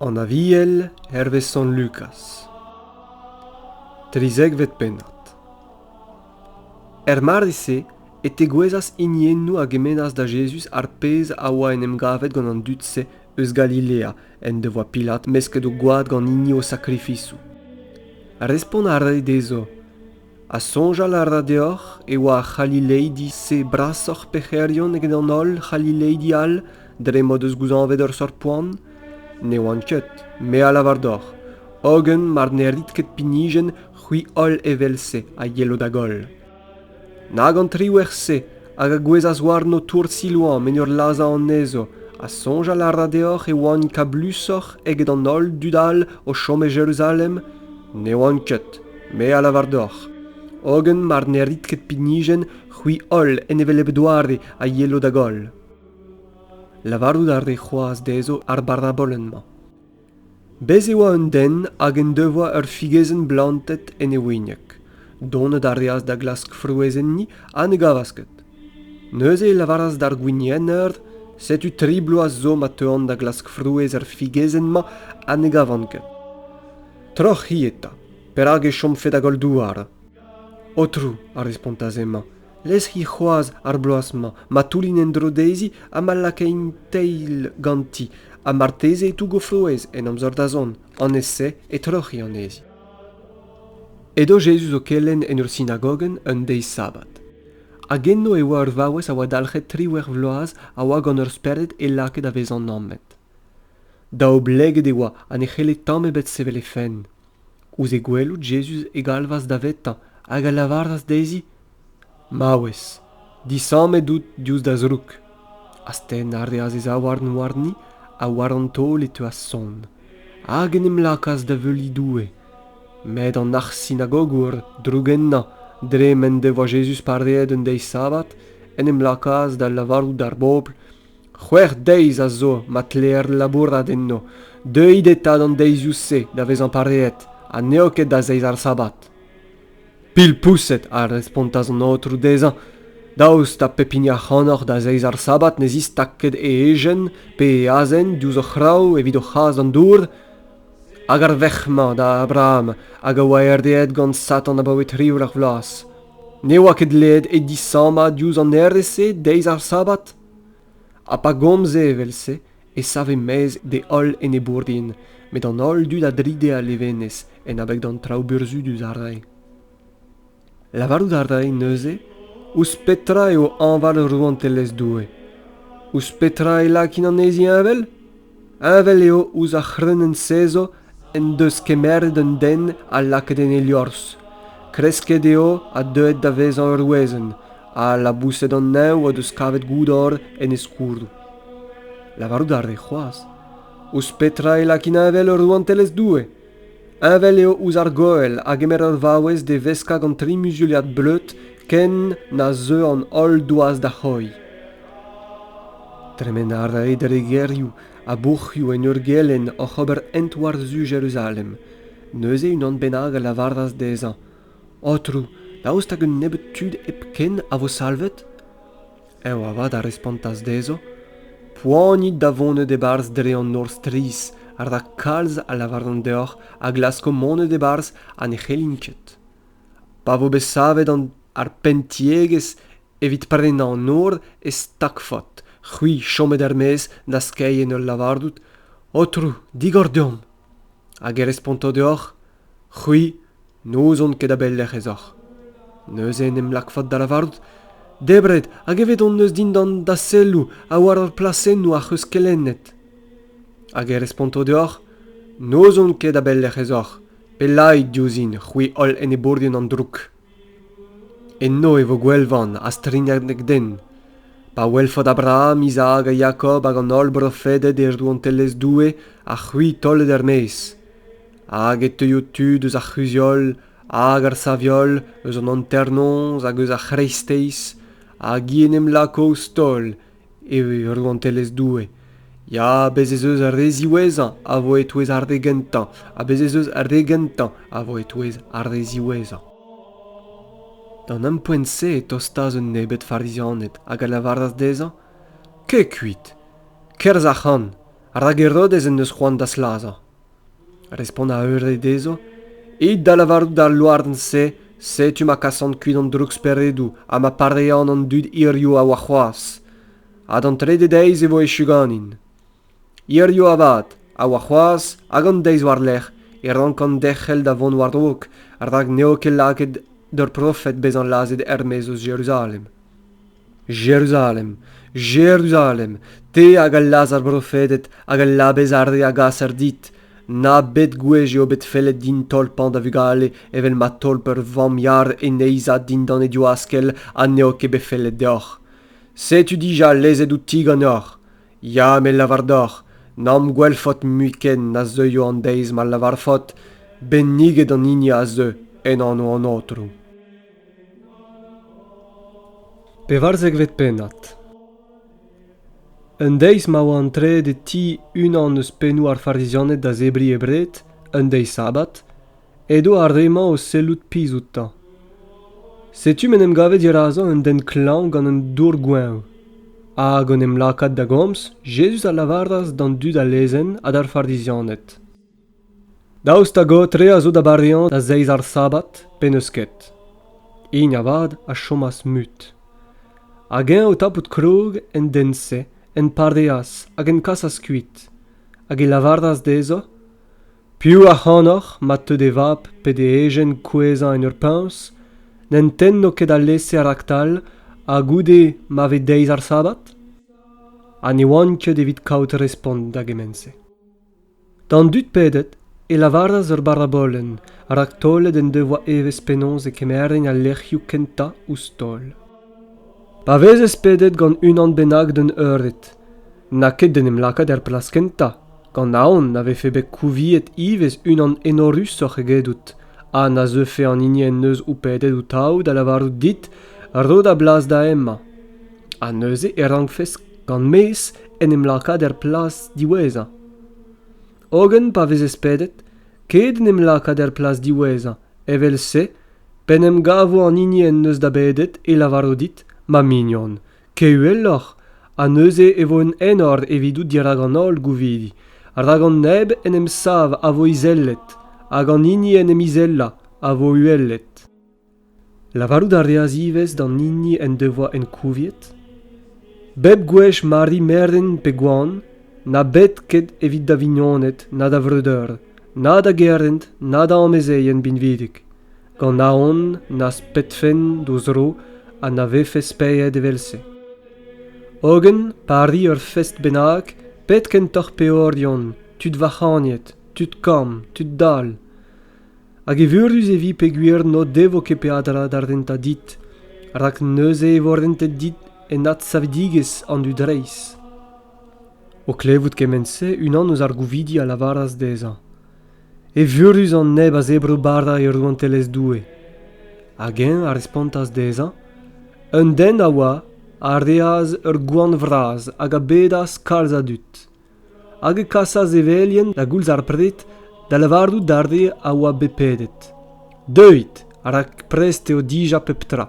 An Aviel hervez Sant Lukaz Trizekvet pennad Er mardi-se e tegouezhas hiniennoù a gemennas da Jezuz ar pezh a oa en em gavet gant an dud-se eus Galilea en devoa Pilat mesket o gwad gant hini o sakrifisoù. Respont a rae dezho, ha soñjal a ra deoc'h e oa ar c'halileidi-se brasoc'h pec'herion eget an holl c'halileidi all dre m'o deus gouzañvet ur seurt poan? Ne oan ket, me a lavar deoc'h, hogen mar ne rit ket pinijenn, c'hwi holl evel-se a yelo da goll. Nag an triwec'h-se hag a gouezhas warno tourd Silouan en ur lazhañ anezho, ha soñjal a ra deoc'h e oant kablusoc'h eget an holl dud all o chom e Jeruzalem? Ne oant ket, me a lavar deoc'h. Hogen mar ne rit ket pinijenn, c'hwi holl en hevelep doare a yelo da goll. Lavarout a rez c'hoazh dezho ar barabolenn-mañ. Bez' e oa un den hag en devoa ur figezenn blantet en e wigneg. Donet a reas da glask frouezh enni ha ne gavas ket. Neuze e lavaras d'ar gwinienner Setu tri bloaz zo ma teuan da glask frouezh er figezenn-mañ ha ne gavan ket. Troc'h-hi eta. Perak e chomfe da goll douar? Aotrou, a respontas hemañ, leskiñ c'hoazh ar bloaz-mañ ma toullin en-dro dezhi ha ma lakain teil ganti ha marteze e tougo frouezh en amzer da zont an ez-se e troc'hiñ anezhi. Edo Jezuz o kelenn en ur sinagogenn un deiz sabbat. Hag enno e oa ur vaouez a oa dalc'het triwec'h vloaz a oa gant ur spered e lakaet da vezañ nammet. Da obleget e oa ha ne c'helle tamm ebet sevel he fenn. Ouzh he gwelout, Jezuz e galvas davetañ hag a lavaras dezhi, Maouez, disammet out diouzh da zroug. Astenn a reas e zaouarn warni ha war an taol e teuas sonn, hag en em lakaas da veuliñ Doue. Met an arc'h-sinagogour, drougennañ dre m'en devoa Jezuz pareet un deiz sabbat, en em lakaas da lavarout d'ar bobl C'hwec'h deiz a zo ma tleer labourat enno. Deuit eta d'an deizioù-se da vezañ pareet ha n'eo ket da zeiz ar sabbat. Pilpoused, a respontas an aotrou dezhañ, daoust ha pep hini ac'hanoc'h da zeiz ar sabbat ne zistak ket e ejen pe e azen diouzh o c'hraou evit o c'has d'an dour? Hag ar verc'h-mañ da Abraham hag a oa erdeet gant Satan abaoe tri eur ar vloaz, ne oa ket dleet e disammañ diouzh an hêrezh-se deiz ar sabbat? ha pa gomze evel-se e save maez d'e holl enebourien met an holl dud a dride a levenez en abeg d'an traoù burzhudus a rae lavarout a rae neuze ouzh petra eo hañval rouantelezh Doue ouzh petra e lakin anezhi heñvel Heñvel eo ouzh ar c'hreunenn-sezo en deus kemeret un den ha lakaet en e liorzh. Kresket eo ha deuet da vezañ ur wezenn, ha laboused an neñv o deus kavet goudor en e skourroù. Lavarout a rez c'hoazh. Ouzh petra e lakin heñvel ur rouantelezh Doue ? Heñvel eo ouzh ar goell a gemer ur vaouez da veskañ gant tri muzuliad bleud ken na zeu an holl doaz da c'hoiñ. Tremen a rae dre gêrioù ha bourc'hioù en ur gelenn oc'h ober hent war-zu Jeruzalem. Neuze unan bennak a lavaras dezhañ, Aotrou, daoust hag un nebeud tud hepken a vo salvet? ev avat a respontas dezho poanit da vonet e-barzh dre an nor strizh rak kalz a lavaran deoc'h a glasko monet e-barzh ha ne c'hellin ket pa vo bet savet ar penntiegezh evit prenañ an nor e stagfot c'hwi chomet er-maez da skeiñ en ul lavarout aotrou digor deomp hag e responto deoc'h c'hwi n'ouzon ket a-belec'h ez oc'h neuze en em lakfot da lavarout debret hag evet hon eus dindan da selloù ha war ar plasennoù ac'h eus kelennet hag e responto deoc'h n'ouzon ket a-belec'h ez oc'h pellaik diouzhin c'hwi holl enebourien an droug Eno e vo gwelvan ha strignadenn den. Pa welfot Abraham, Izaak ha Jakob hag an holl brofeded er rouantelezh Doue, ha c'hwi taolet er-maez. Hag e teuio tud eus ar c'huzh-holl hag ar sav-holl, eus an hanternoz hag eus ar c'hreisteiz, hag i en em lako ouzh taol eo ur rouantelezh doue ya bez' ez eus ar re ziwezhañ a vo e-touez ar re gentañ ha bez' ez eus ar re gentañ a vo e-touez ar re ziwezhañ d'an ampoent-se e tostas un nebeud farizianed hag a lavaras dezhañ kez kuit kerzh ac'han rak Herodez en deus c'hoant da slazañ Respont a eure dezho, It da lavarout d'al louarn-se, setu ma kasan kuit an drouksperedoù ha ma parean an dud hiziv ha warc'hoazh, ha d'an trede deiz e vo echu ganin. Hiziv avat ha warc'hoazh hag an deiz war-lerc'h e rankan derc'hel da vont war-raok rak n'eo ket lakaet d'ur profed bezañ lazhet er-maez eus Jeruzalem. Jeruzalem, Jeruzalem, te hag a laz ar brofeded hag a labez ar re a gaser dit, na bed gwech eo bet fellet din tolpañ da vugale evel ma tolp ur vamm yar en neizhad dindan he diwaskell ha n'eo ket bet fellet deoc'h. Setu dija lezet outi ganeoc'h. Ya, me lavar deoc'h, n'am gwelfot mui ken na zeuio an deiz ma lavarfot, Benniget an hini a zeu en anv an Aotrou. Pevarzekvet pennad Un deiz ma oa antreet e ti unan eus pennoù ar Farizianed da zebriñ e bred, un deiz sabbat, edo ar re-mañ o sellout pizh outañ. Setu m'en em gave dirazañ un den klañv gant un dour goeñv. Hag en em lakaat da gomz, Jezuz a lavaras d'an dud a lezenn ha d'ar Farizianed. Daoust hag ho tre a zo da bareañ da zeiz ar sabad pe n'eus ket? Hini avat a chomas mut. Hag eñ o tapout krog en den-se, en pareas hag en kasas kuit, hag e lavaras dezhañ Piv ac'hanoc'h ma teu d'e vab pe d'e ejen kouezhañ en ur puñs n'en tenno ket alese raktal ha goude ma ve deiz ar sabad? Ha ne oan ket evit kaout respont da gement-se. D'an dud pedet e lavaras ur barabolenn rak taolet en devoa evezh penaos e kemerent al lec'hioù kentañ ouzh taol. Pa vezes pedet gant unan bennak d'un eured, n'a ket d'en em lakaat er plas kentañ, gant aon na vefe bet kouviet ivez unan enorusoc'h egedout ha na zeufe an hini en deus ho pedet ho-taou da lavarout dit ro da blas da hemañ. Ha neuze e rankfes gant mezh en em lakaat er plas diwezhañ. hogen pa vezez pedet ket en em lakaat er plas diwezhañ evel-se p'en em gavo an hini en deus da bedet e lavaro dit ma mignon ket uheloc'h ha neuze e vo un enor evidout dirak an holl gouvidi rak an neb en em sav a vo izellet hag an hini en em izellañ a vo uhelet Lavarout a reas ivez d'an hini en devoa ankouviet bep gwech ma ri merden pe goan na bet ket evit da vignoned na da vreudeur na da gerent na da amezeien binvidik gant aon n'az pedfen d'o zro ha na vefes paeet evel-se. Hogen, pa ri ur fest bennak, pet kentoc'h peorion, tud vac'hagnet, tud kamm, tud dall, Hag evurus e vi peogwir n'o devo ket peadra da rentañ dit, rak neuze e vo rentet dit en adsavidigezh an dud reizh. O klevout kement-se, unan eus ar gouvidi a lavaras dezhañ Evurus an neb a zebro bara e rouantelezh Doue. Hag eñ a respontas dezhañ Un den a oa a reas ur gwan vras hag a bedas kalz a dud. hag e kasas e velienn da goulz ar pred da lavarout d'ar re a oa bet pedet deuit rak prest eo dija pep tra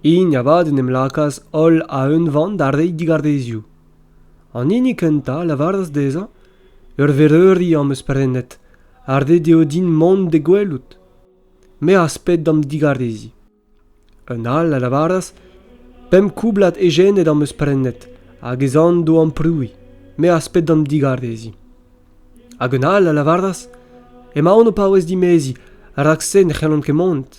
hini avat en em lakaas holl a-unvan da reiñ digarezioù an hini kentañ a lavaras dezhañ ur vereuri am eus prenet ha ret eo din mont d'e gwelout me az ped d'am digareziñ Un all a lavaras pemp koublad ejened am eus prenet hag ez an d'o amprouiñ me az ped d'an digareziñ. Hag un all a lavaras emaon o paouez dimeziñ rak-se ne c'hellont ket mont.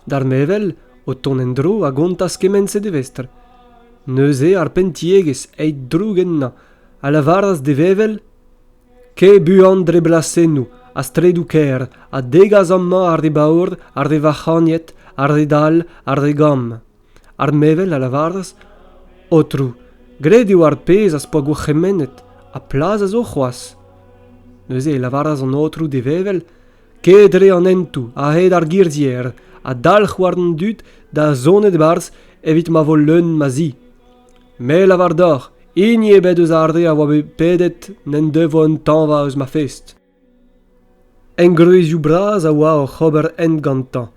D'ar mevel, o tont en-dro a gontas kement-se d'e vestr. Neuze ar penntiegezh, eit droug ennañ, a lavaras d'e vevel ket buan dre blasennoù ha straedoù-kaer ha degas amañ ar re baour ar re vac'hagnet ar re dall ar re gamm ar mevel a lavaras ôtrou graet eo ar pezh az po gourc'hemennet ha plas a zo c'hoazh neuze e lavaras an ôtrou d'e vevel ket dre an hentoù a-hed ar girzhier ha dalc'h war an dud da zonet e-barzh evit ma vo leun ma zi Me lavar deoc'h, hini ebet eus ar re a oa bet pedet n'en devoa un tañva eus ma fest. Engroezioù bras a oa oc'h ober hent gantañ,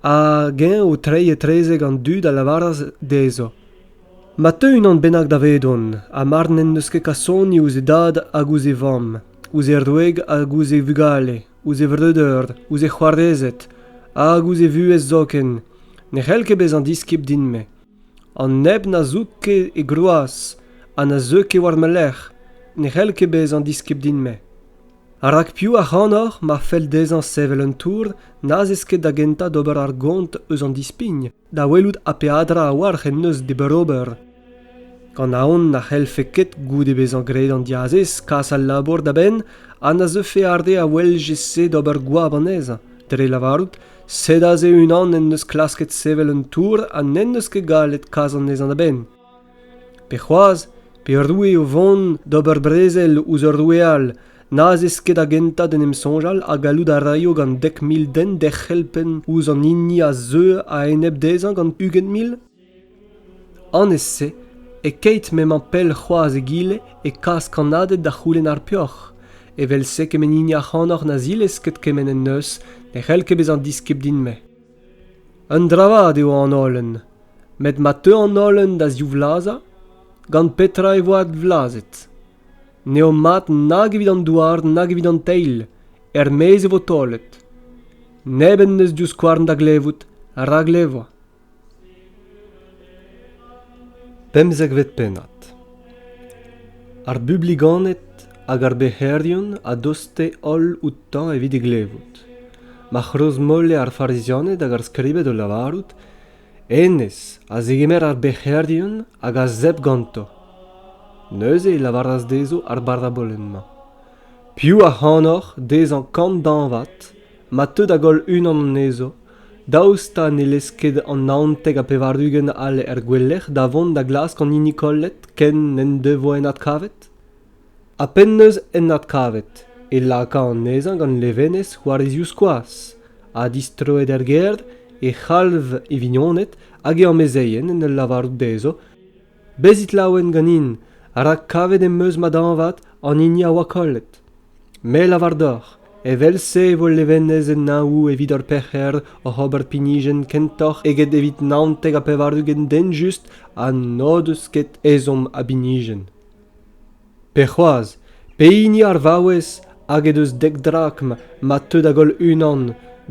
hag eñ o treiñ etrezek an dud a lavaras dezho Ma teu unan bennak davedon, ha mar n'en deus ket kasoni ouzh e dad hag ouzh e vamm, ouzh e wreg hag ouzh e vugale, ouzh e vreudeur, ouzh e c'hoarezed hag ouzh e vuhez zoken, ne c'hell ket bezañ diskib din-me. an neb na zoug ket e groaz ha na zeu ket war ma lerc'h ne c'hell ket bezañ diskib din-me rak piv ac'hanoc'h ma fell dezhañ sevel un tour n'az eus ket da gentañ d'ober ar gont eus an dispign da welout ha peadra a-walc'h en deus d'e beurrober gant aon na c'hellfe ket goude bezañ graet an diazez kas al labour da benn ha na zeufe ar re a weljez-se d'ober goap anezhañ dre lavarout Sed aze unan en deus klasket sevel un tour ha n'en deus ket gallet kas anezhañ a-benn. Pe c'hoazh, pe roue o vont d'ober brezel ouzh ur roue all n'az eus ket da gentañ d'en em soñjal ha gallout a raio gant dek mil den derc'hel penn ouzh an hini a zeu a-enep dezhañ gant ugent mil? Annez-se, e-keit m'emañ pell c'hoazh egile e kas kannaded da c'houlenn ar peoc'h, evel-se kement hini ac'hanoc'h na zilez ket kement en deus ne c'hell ket bezañ diskib din-me. Un dravad eo an holen, met ma teu an holen da zivlazhañ, gant petra e vo advlazhet? N'eo mat nag evit an douar nag evit an teil, er-maez e vo taolet. Neb en deus divskouarn da glevout, a ra glevoa. Pemzekvet pennad Ar bubliganed hag ar bec'herion a doste holl outañ evit e glevout. Ma c'hrozmolle ar Farizianed hag ar skribed o lavarout Hennezh a zegemer ar bec'herion hag a zebr ganto. Neuze e lavaras dezho ar barabolenn-mañ Piv ac'hanoc'h dezhañ kant dañvad ma teu da goll unan anezho daoust ha ne lez ket an naontek ha pevar-ugent all er gouelec'h da vont da glask an hini kollet ken n'en devoa en adkavet ha p'en-deus en adkavet e laka anezhañ gant levenez war e zivskoaz ha distroet er gêr e c'halv e vignoned hag e amezeien en ul lavarout dezho Bezit laouen ganin, rak kavet em eus ma dañvad an hini a oa kollet. Me lavar deoc'h, evel-se e vo levenez en Neñvoù evit hor pec'her oc'h ober pinijenn kentoc'h eget evit naontek ha pevar-ugent den just ha n'o deus ket ezhomm a binijenn. pe c'hoazh pehini ar vaouez hag he deus dek drakm ma teu da goll unan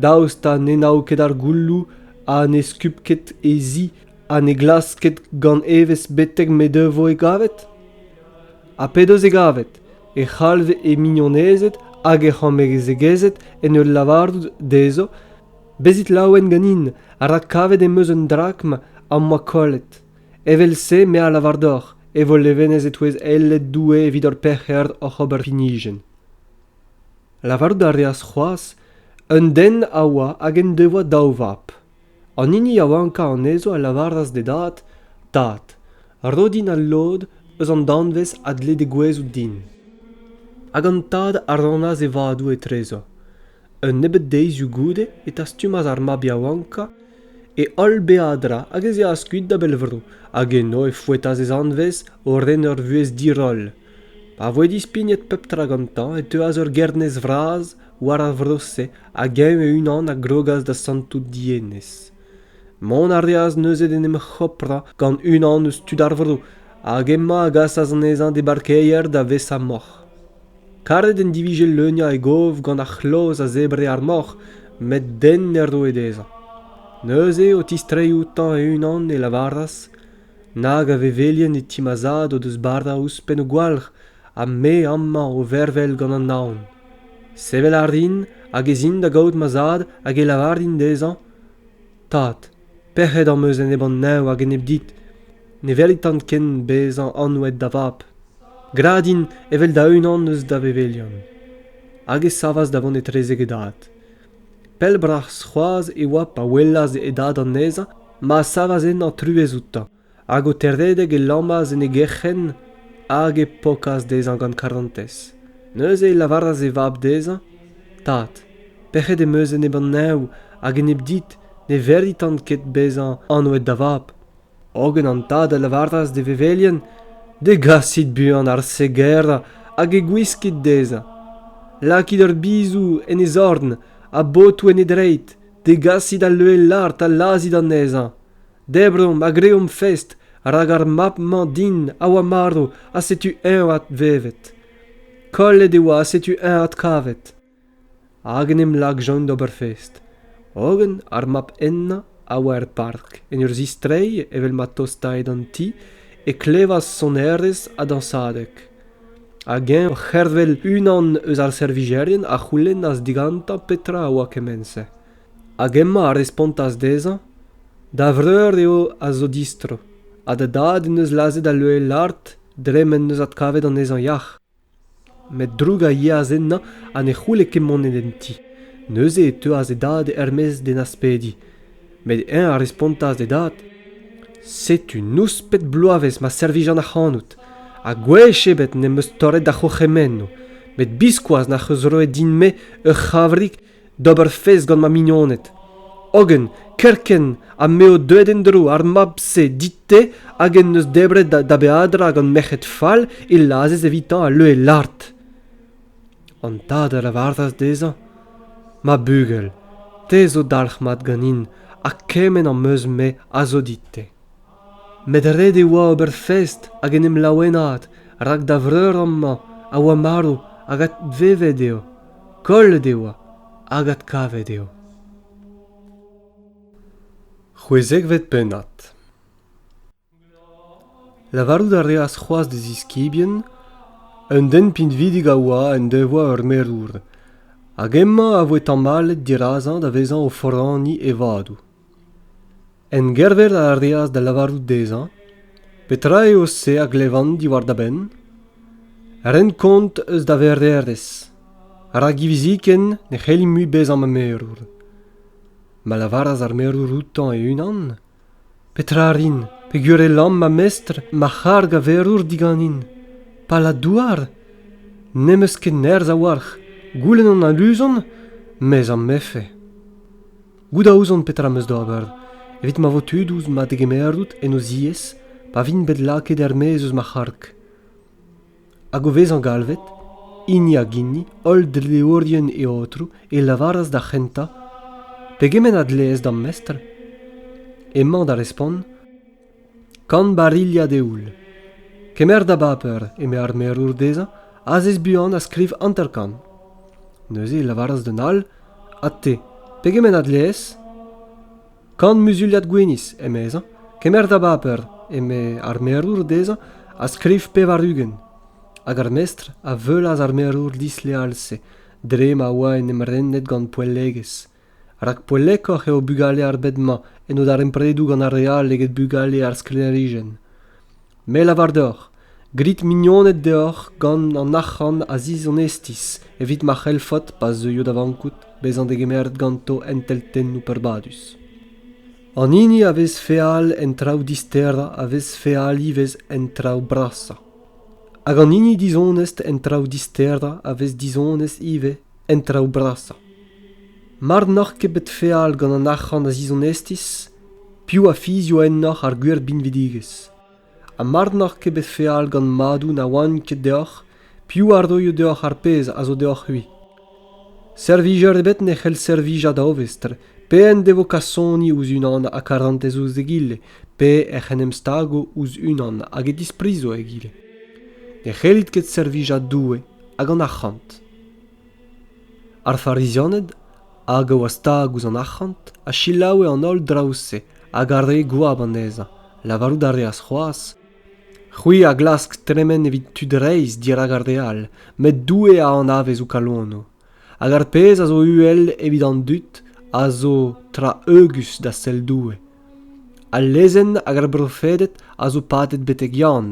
daoust ha ne nao ket ar goulloù ha ne skup ket he zi ha ne glask ket gant evezh betek m'he devo e gavet? Ha p'he deus e gavet e c'halv he mignonezed hag he c'homezegezed en ul lavarout dezho bezit laouen ganin rak kavet em eus un drakm am boa kollet Evel-se me a lavar deoc'h e vo levenez e-touez eiled Doue evit hor pec'her oc'h ober inijen. Lavarout a reas c'hoazh un den a oa hag en devoa daou vab. An hini yaouankañ anezho a lavaras d'e dad, Tad, ro din al lod eus an danvez a dle degouezhout din. Hag an tad a rannas e vadoù etrezo. Un nebeud deizioù goude e tastumas ar mab yaouankañ e holl beadra hag ez eas kuit da bell-vro hag eno e foetas e zanvez o ren ur vuhez diroll. Pa voe dispignet pep tra gantañ e teuas ur gernez vras war ar vro-se hag eñ e-unan a grogas da santout dienez. Mont a reas neuze d'en em c'hoprañ gant unan eus tud ar vro hag emañ a gasas anezhañ d'e barkeier da vesa moc'h. Karet en divije leuniañ e gov gant ar c'hloz a zebre ar moc'h met den ne roe dezhañ. Neuze, o tistreiñ outañ e-unan, e lavaras nag a vevelien e ti ma zad o deus bara ouzhpenn o gwalc'h ha me amañ o vervel gant an naon. Sevel a rin hag ez in da gaout ma zad hag e lavarin dezhañ Tad, pec'hed am eus enep an neñv hag enep dit. Ne velitan ken bezañ anvet da vab. Gra din evel da-unan eus da vevelion. Hag e savas da vont etrezek e dad. Pell-bras c'hoazh e oa pa welas e dad anezhañ ma savas ennañ truez outañ. hag o teredek e lammas en e gerc'henn hag e pokas dezhañ gant karantez. Neuze e lavaras e vab dezhañ, Tad, pec'hed em eus enep an neñv hag enep dit ne veritan ket bezañ anvet da vab. Hogen an tad a lavaras d'e vevelien, Degasit buan ar segerañ hag e gwiskit dezhañ. Lakit ur bizou en e zorn ha botoù en e dreid. Degasit al leue lart ha lazhit anezhañ. Debromp ha greomp fest, rak ar mab-mañ din a oa marv ha setu eñ advevet. Kollet e oa ha setu eñ adkavet. Hag en em lakjont d'ober fest. Hogen ar mab hennañ a oa er park, en ur zistreiñ evel ma tostaed an ti, e klevas sonerezh ha dañsadeg. Hag eñ o c'hervel unan eus ar servijerien a c'houlennas digantañ petra a oa kement-se. hag emañ a respontas dezhañ da vreur eo a zo distro ha da dad en deus lazhet al loen-lard dre m'en deus adkavet anezhañ yac'h met droug a yeas ennañ ha ne c'houle ket mont en ti neuze e teuas e dad er-maez d'en aspediñ met eñ a respontas d'e dad setu nouspet bloavezh ma servijan ac'hanout ha gwech ebet n'em eus torret da c'hourc'hemennoù met biskoazh n'ac'h eus roet din-me ur c'havrig d'ober fez gant ma mignoned. Hogen, kerkent ha m'eo deuet en-dro ar mab-se dit-te hag en deus debret da beadra gant merc'hed fall e lazhez evitañ al leue lart. An tad a lavaras dezhañ, Ma bugel, te zo dalc'hmat ganin, ha kement am eus-me a zo dit-te. met ret e oa ober fest hag en em laouenaat rak da vreur amañ a oa marv hag advevet eo kollet e oa hag adkavet eo c'hwezekvet pennad lavarout a reas c'hoazh d'e ziskibien un den pinvidik a oa en devoa ur merour hag hemañ a voe tamallet dirazañ da vezañ o foraniñ e vadoù Engervel a reas da lavarout dezhañ petra eo se a glevan diwar da benn, ren kont eus da vereerezh, rak hiviziken ne c'helli mui bezañ ma merour. Ma lavaras ar merour outañ e-unan petra rin, peogwir e lamm ma mestr ma c'harg a verour diganin. Pala-douar? N'em eus ket nerzh a-walc'h, goulenn an aluzon, mes am befe. Goût a ouzon petra am eus d'ober, evit ma vo tud ouzh ma degemerout en o ziez pa vint bet lakaet er-maez eus ma c'harg. Hag o vezañ galvet, hini hag hini, holl dleourien e Aotrou, e lavaras d'ar c'hentañ, Pegement a dleez d'am mestr? Emañ da respont, Kant barilhad eoul. Kemer da baper, eme ar merour dezhañ, azez buan ha skriv hanter-kant. Neuze e lavaras d'an all, Ha te, pegement a dleez? Kant muzuliad gwinizh, emezañ. Kemer da baper, eme ar merour dezhañ, ha skriv pevar-ugent. Hag ar mestr a veulas ar merour disleal-se, dre ma oa en em renet gant poellegezh. rak poellekoc'h eo bugale ar bed-mañ en o darempredoù gant ar re all eget bugale ar sklêrijenn. Me lavar deoc'h, grit mignoned deoc'h gant an arc'hant a zizonestiz evit ma c'hellfot, pa zeuio da vankout, bezañ degemeret ganto enteltennoù peurbadus. An hini a vez feal en traoù disterañ a vez feal ivez en traoù brasañ. Hag an hini dizonest en traoù disterañ a vez dizonest ivez en traoù brasañ. Mar n'oc'h ket bet feal gant an arc'hant a zizonestiz, piv a fizio ennoc'h ar gwir binvidigezh? Ha mar n'oc'h ket bet feal gant madoù na oant ket deoc'h, piv a roio deoc'h ar pezh a zo deoc'h-c'hwi? Servijer ebet ne c'hell servijañ da ovestr, pe en devo kasoni ouzh unan ha karantez ouzh egile, pe ec'h en em stago ouzh unan hag e disprizo egile. Ne c'hellit ket servijañ Doue hag an arc'hant. Ar Farizianed, hag a oa stag ouzh an arc'hant, a selaoue an holl draoù-se hag a ree goap anezhañ. Lavarout a reas c'hoazh, «C'hwi a glask tremen evit tud reizh dirak ar re all, met Doue a anavez ho kalonoù. Hag ar pezh a zo uhel evit an dud a zo tra eugus da sell Doue. Al lezenn hag ar brofeded a zo padet betek Yann.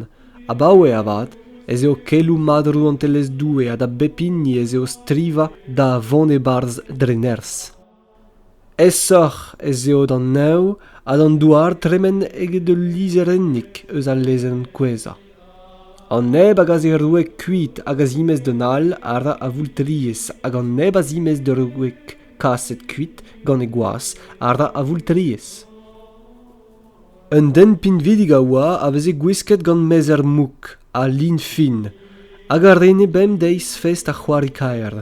Abaoe avat ez eo keloù mat Rouantelezh Doue ha da bep hini ez eo strivañ da vont e-barzh dre nerzh. Aesoc'h ez eo d'an neñv ha d'an douar tremen eget ul lizherennig eus al lezenn kouezhañ. An neb hag a zeroue kuit hag a zimez d'un all a ra a voultriez hag an neb a zimez d'ur wreg kaset kuit gant e gwaz àr da avoultriezh. Un den pinvidik a oa a veze gwisket gant mezher mouk ha lin fin hag a rene bemdeiz fest ar c'hoari kaer.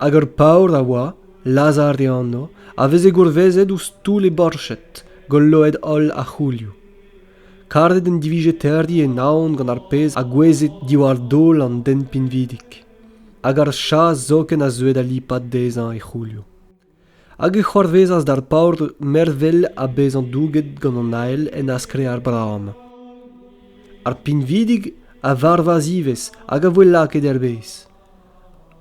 Hag ur paour a oa, Lazar e anv, a veze gourvezet ouzh toull e borched, golloet holl ar c'houlioù. Karet en divije terriñ e naon gant ar pezh a goueze diwar daol an den pinvidik. Hag ar chas zoken a zeue da lipat dezhañ e c'houlioù. Hag e c'hoarvezas d'ar paotr mervel ha bezañ douget gant an ael en askre ar Braham. Ar pinvidig a varvas ivez hag a voe lakaet er-bez.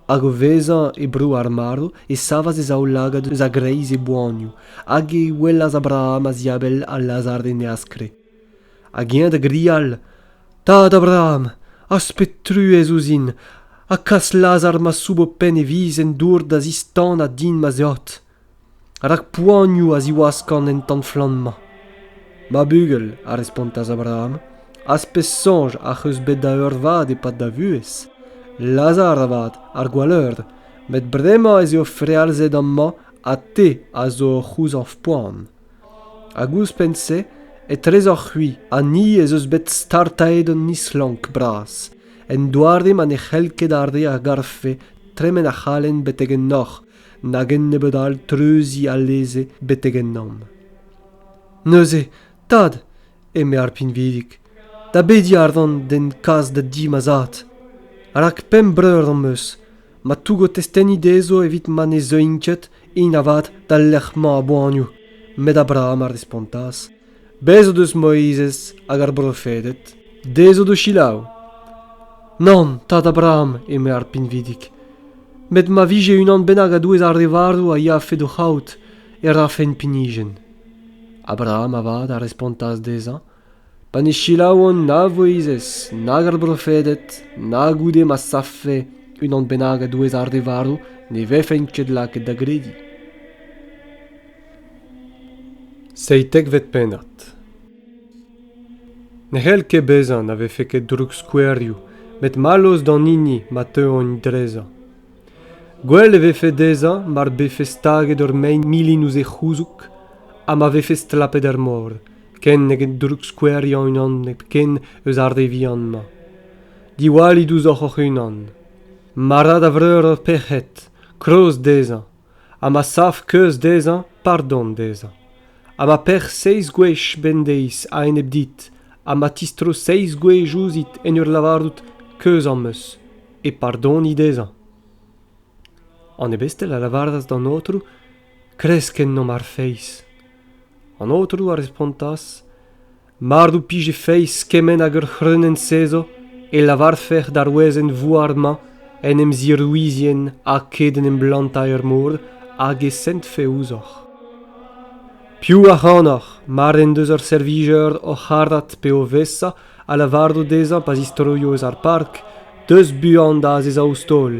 Hag o vezañ e bro ar marv e savas e zaoulagad eus a-greiz e boanioù, hag e welas Abraham a-ziabell ha Lazar en e askre. hag eñ da grial tad Abraham aspet truez ouzhin ha kas Lazar ma soub ho penn e viz en dour da zistanañ din ma zeod rak poanioù a ziwaskan en tan-flamm-mañ. Ma bugel, a respontas Abraham, az pez soñj ac'h eus bet da eurvad e-pad da vuhez. Lazar avat, ar gwalleur, met bremañ ez eo frealzet amañ ha te a zo o c'houzañv poan. Hag ouzhpenn-se, etrezoc'h-c'hwi ha ni ez eus bet startaet hon islonk bras, en doare ma ne c'hell ket ar re a garfe tremen ac'halen betek ennoc'h nag ennebeut all treuziñ alese betek ennomp. Neuze, tad, eme ar pinvidik, da bediñ a ran d'en kas da di ma zad. Rak pemp breur am eus, ma tougo testeni dezho evit ma ne zeuint ket, int avat, d'al lec'h-mañ a-boanioù. Met Abraham a respontas, Bez' o deus Moizez hag ar brofeded, dezho d'o selaou. Nann, tad Abraham, eme ar pinvidik, met ma vije unan bennak a-douez ar re varv a yafe d'o c'haout, e rafen pinijenn. Abraham avat a respontas dezhañ, Pa ne selaouan na Voizez nag ar brofeded na goude ma savfe unan bennak a-douez ar re varv ne vefen ket lakaet da grediñ. Seitekvet pennad Ne c'hell ket bezañ na vefe ket droukskouerioù met mallozh d'an hini ma teuont drezañ. Gwell e vefe dezhañ mar befe staget ur mein milin ouzh e c'houzoug ha ma vefe stlapet er mor. ken neget droukskoueriañ unan hepken eus ar re vihan-mañ. Diwallit ouzhoc'h hoc'h-unan. Ma ra da vreur ur pec'hed, kloz dezhañ, ha ma sav keuz dezhañ, pardon dezhañ. Ha ma pec'h seizh gwech bemdeiz a-enep dit, ha ma tistro seizh gwech ouzhit en ur lavarout keuz am eus, e pardoni dezhañ. An ebestel a lavaras d'an aotrou, Kresk ennomp ar feiz. An aotrou a respontas, Mar d'ho pije feiz kement hag ur c'hreunenn-sezo, e lavarfec'h d'ar wezenn-vouar-mañ en em zirouizien aked en em blantañ er mor hag e sentfe ouzhoc'h. Piv ac'hanoc'h, mar en deus ur servijer oc'h arat pe o vesa, ha lavarout dezhañ pa zistroio eus ar park deus buan da azezañ ouzh taol.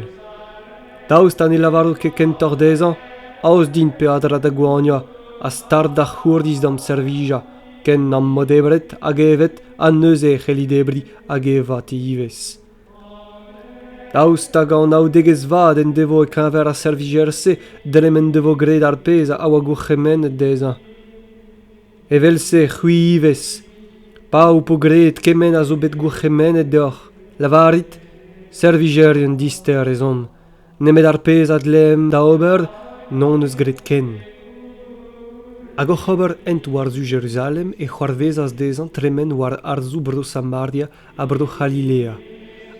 Daoust ha ne lavarout ket kentoc'h dezhañ aoz din peadra da goaniañ ha start da c'hourdiz d'am servijañ ken n'am bo debret hag evet ha neuze e c'helli debriñ hag evañ ivez. Daoust hag anaoudegezh vat en devo e-keñver ar servijer-se dre m'en devo graet ar pezh a oa gourc'hemennet dezhañ? Evel-se c'hwi ivez. Pa ho po graet kement a zo bet gourc'hemennet deoc'h, lavarit, servijerien dister ez on. Nemet ar pezh a dleemp da ober n'hon eus graet ken. Hag oc'h ober hent war-zu Jeruzalem e c'hoarvezas dezhañ tremen war arzoù Bro-Samaria ha bro C'halilea.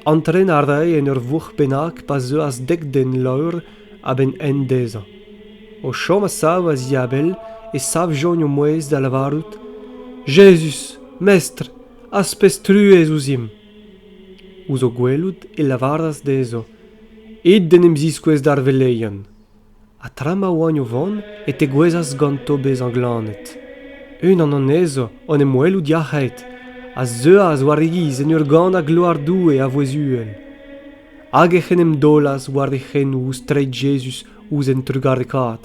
Antren a rae en ur vourc'h bennak pa zeuas dek den laour a-benn hent dezhañ. O chom a-sav a-ziabell e savjont o mouezh da lavarout Jezuz, Mestr, az pez truez ouzhimp. Ouzh o gwelout e lavaras dezho It d'en em ziskouez d'ar veleien. ha tra ma oagn o vont e tegouezhas ganto bezañ glannet. Unan anezho, o'n em welout yac'hed, a zeuas war e giz en ur ganañ gloar Doue a vouezh uhel. Hag ec'h en em daolas war e c'henoù ouzh treid Jezuz ouzh un trugarekaat.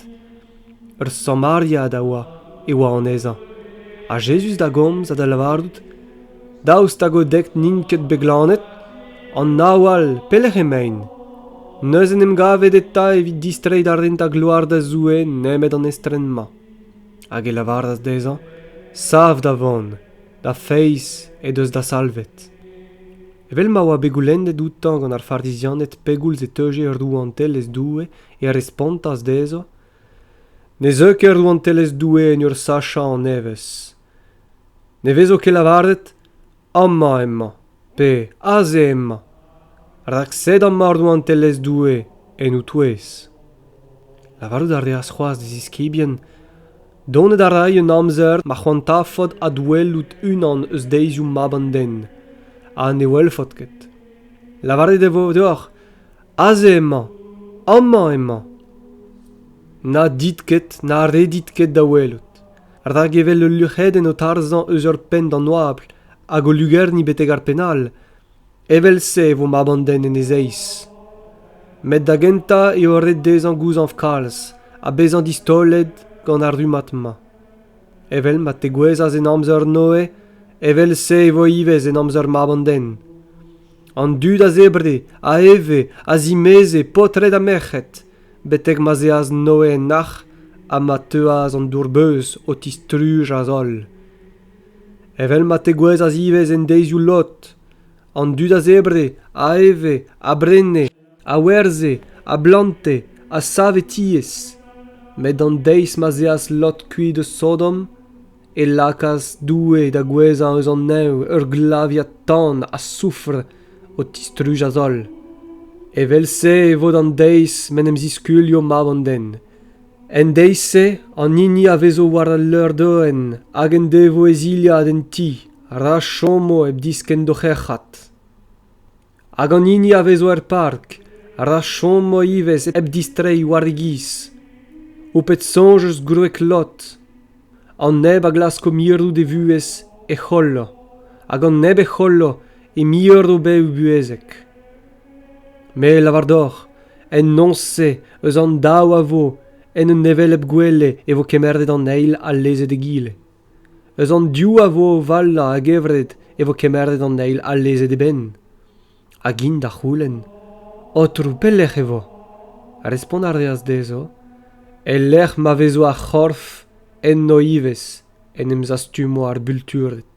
Ur Samariad a oa e oa anezhañ, ha Jezuz da gomz ha da lavarout Daoust hag o dek n'int ket bet glannet? An nav all, pelec'h emaint? Neuze en em gavet eta evit distreiñ da rentañ gloar da Zoue nemet an estren-mañ. Hag e lavaras dezhañ, Sav da vont, da feiz he deus da salvet. Evel ma oa bet goulennet outañ gant ar Farizianed pegoulz e teuje rouantelezh Doue, e respontas dezhañ, Ne zeu ket rouantelezh Doue en ur sachañ an evezh. Ne vezo ket lavaret amañ emañ pe aze emañ, rak sed amañ rouantelezh Doue en ho touez. Lavarout a reas c'hoazh d'e ziskibien Donet a ray un amzer ma c'hoantafot adwelout unan eus deizioù mab an den, ha ne welfot ket. Lavaret e vo deoc'h aze emañ, amañ emañ. Na dit ket na redit ket da welout. rak evel ul luc'hedenn o tarzhañ eus ur penn d'an oabl hag o lugerniñ betek ar penn all evel-se e vo mab an den en e zeiz met da gentañ eo ret dezhañ gouzañv kalz ha bezañ distaolet gant ar rummad-mañ evel ma tegouezhas en amzer noe evel-se e vo ivez en amzer mab an den an dud a zebre a eve a zimeze paotred ha merc'hed betek ma'z eas Noe en nac'h ha ma teuas an dour-beuz o tistrujañ holl. Evel ma tegouezhas ivez en deizioù Lot, an dud a zebre, a eve, a brene, a werzhe, a blante, a save tiez. Met an deiz ma'z eas Lot kuit eus Sodom, e lakaas Doue da gouezhañ eus an neñv ur glavier tan ha soufr o tistrujañ holl. Evel-se e vo d'an deiz m'en em ziskuilho mab an den. En deiz-se an hini a vezo war al leur-doenn hag en devo e zilhad en ti ra chomo hep diskenn d'o c'herc'hat. Hag an hini a vezo er park a ra chomo ivez hep distreiñ war e giz. Ho pet soñj eus gwreg Lot. An neb a glasko mirout e vuhez e c'hollo, hag an neb e c'hollo e mirro bev buhezek. Me lavar deoc'h, en noz-se eus an daou a vo, en un hevelep gwele e vo kemeret an eil ha lezet egile. eus an div a vo o valañ a-gevret e vo kemeret an eil alezet e benn hag int da c'houlenn aotrou pelec'h e vo respont a reas dezho e-lec'h ma vezo ar c'horf enno ivez en em zastumo ar bultured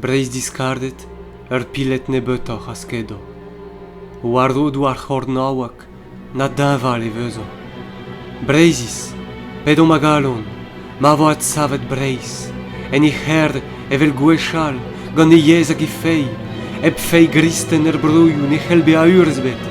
Breizh-diskardet, ur piled nebeutoc'h a skedo. War-rodoù ar c'hornaoueg, na deñval e vezo. Breizhiz, p'edomp a galon, ma vo adsavet Breizh, en he c'herr evel gwechall, gant he yezh hag he feiz, hep feiz gristen er broioù ne c'hell bezañ urzh ebet.